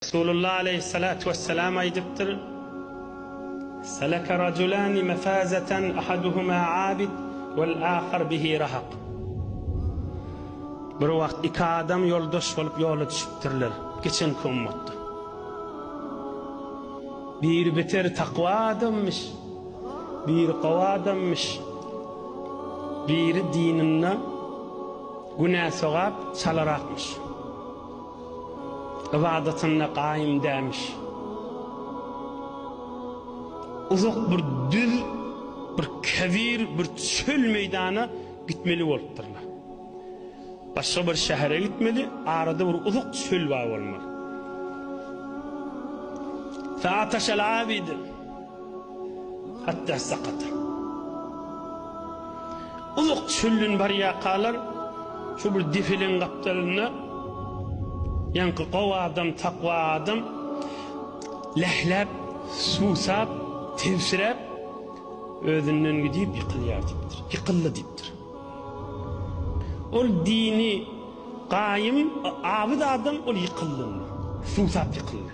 Resulullah aleýhissalatu wessalam aýdypdyr, Seleke rajulani mefazeten ahaduhuma abid wel ahar bihi rahak. Bir wagt iki adam ýoldaş bolup ýola düşüpdirler, geçenki ummatda. Biri beter takwa adamymyş, biri gowy adamymyş. Biri dininde günä-sogap çalarakmyş. ybadatynda gaýym dälmiş. Uzak bir düz, bir kebir, bir çöl meýdana gitmeli bolupdyrlar. Başga bir şähere gitmeli, arada bir uzak çöl bar bolmaly. Saat aşaly abidy. Hatda sakata. Uzak çölden barýarkalar şu bir depeleň gapdalynda ýaňky gowy adam, takwa adam lähläp, suwsap, tebsiräp özünden gidip ýykylýar diýipdir. Ýykyldy diýipdir. Ol dini gaýym, abyt adam ol ýykyldy. Suwsap ýykyldy.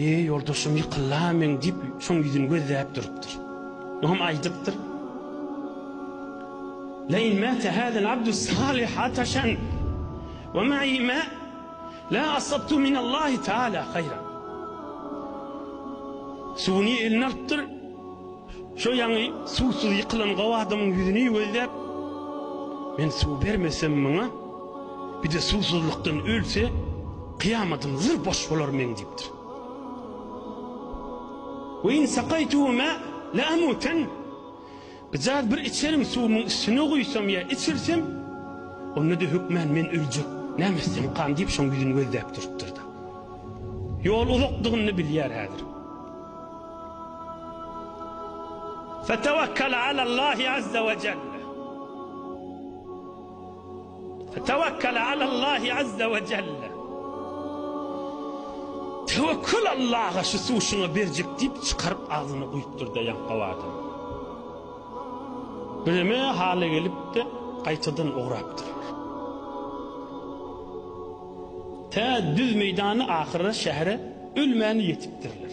Eý, ýoldaşym, ýykyl-la men, diýip, şoň ýüzüni gözläp durupdyr. Ol hem aýdypdyr. Leýn mäte häzel abdus salyh ataşan we ma'i ma la asabtu minallahi taala haýran. Suwuny eline alypdyr. Şo ýaňy suwsuz ýykylan gowy adamyň ýüzüni gözläp, Men suw bermesem muňa, bir-de suwsuzlykdan ölse, kyýamadym zyr boş bolar meň diýipdir. Ve in sakaýtuhu ma la amutan Gyjaz bir içerin suwumyň üstüne guýsam ýa içirsem, onda-da hökmän men öljek, näme etsem kan diýip şoň ýüzüni gözläp durupdyr-da. Ýol uzakdygyny bilýär häzir. Fetewekkel alallahi azze we celle. Fetewekkel alallahi azze we celle. Tewekkül Allaha şu suw şuňa berjek diýip çykaryp agzyna guýupdyr-da ýaňkaw adam. Bireme hala gelipdi, gaýtadan ugrapdyr. Tä düz meýdany ahyra şähere ölmän ýetipdirler.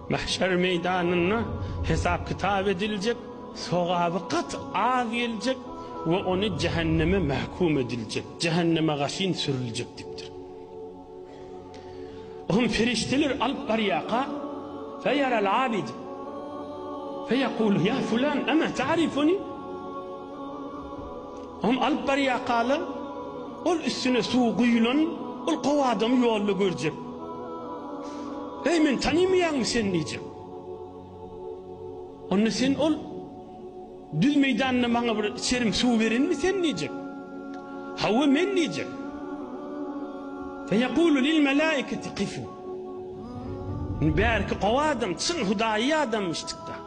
Mahşer meýdanynda hesap-kitap ediljek, sogaby gaty az geljek we ony jähenneme mähkum ediljek, jähenneme gaşyn sürüljek diýipdir. Oňa perişdeler alyp barýarka, feýaral abid, feýekulu, ýa fulan, emä ta'rifuni? Ony alyp barýarkalar, ol üstüne suw guýulan, ol gowy adamy ýolda görjek. Eý, meni tanymaýaňmy sen diýjek. Onda sen ol düz meýdanda maňa bir içerim suw berenmi sen diýjek. Hawa, men diýjek. Feýekulu lil melaiketi kifu. Bärki gowy adam, çyn hudaýy adam eşitdik-de.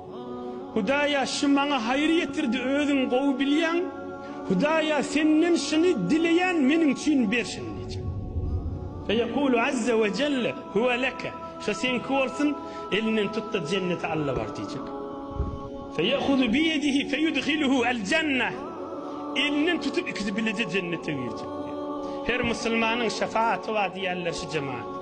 Hudaýa şu maňa haýyr ýetirdi özüň gowy bilýäň Hudaýa senden şuny dileýän meniň üçin ber şuny diýjek. Feýekulu azze we jelle huwe leke şo seňki bolsun elinden tutda jennete Alla bar diýjek. Feýehuzu bi ýedihi feýudhiluhu el jenne elinden tutup ikisi bileje jennete girjek diýjek. Her musulmanyň şefaati bar diýýärler şu jematlar.